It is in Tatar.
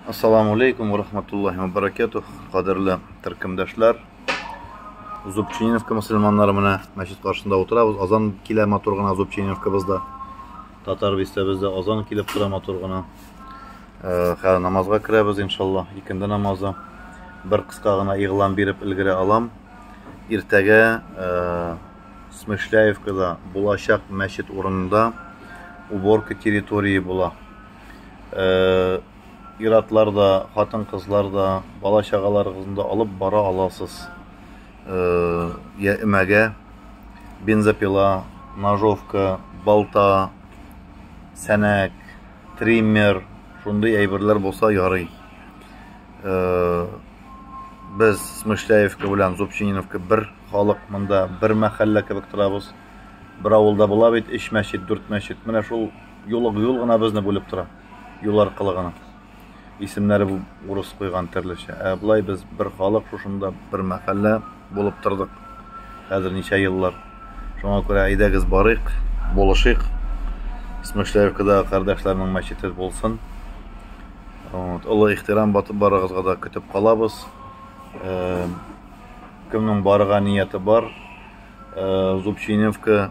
Ассаламу алейкум ва рахматуллахи ва баракатух. Кадерле төркемдәшләр. Зубчининска мусульманнары менә мәчет каршында утырабыз. Азан килә матур гына Зубчининскабызда. Татар бистәбездә азан килеп тора матур гына. Э, хәзер намазга керәбез иншалла. Икенде намазы. Бер кыска гына игълан биреп өлгерә алам. Иртәгә э, Смышляевкада булачак мәчет урынында уборка территории була. Э, иратлар да, хатын-кызлар да, бала-чагаларыгызны да алып бара аласыз. Э, я эмәгә бензопила, ножовка, балта, сәнәк, триммер, шундый әйберләр булса ярый. Э, без Смышляевка белән Зубчининовка бер халык монда, бер мәхәллә кебек торабыз. Бер авылда була бит, өч мәчет, дүрт мәчет. Менә шул Юлык юл гына безне бүлеп тора, юл аркылы гына. Исемнәре бу урыс куйган терлечә. Ә болай без бер халык шушында бер мәхәллә булып тордык. Хәзер ничә еллар. Шуңа күрә әйдәгез барыйк, булышыйк. Смышлявкадагы кардәшләрнең мәчете булсын. Вот, олы ихтирам батып барыгызга да көтеп калабыз. Э, кемнең барга нияте бар, э, Зубчиневка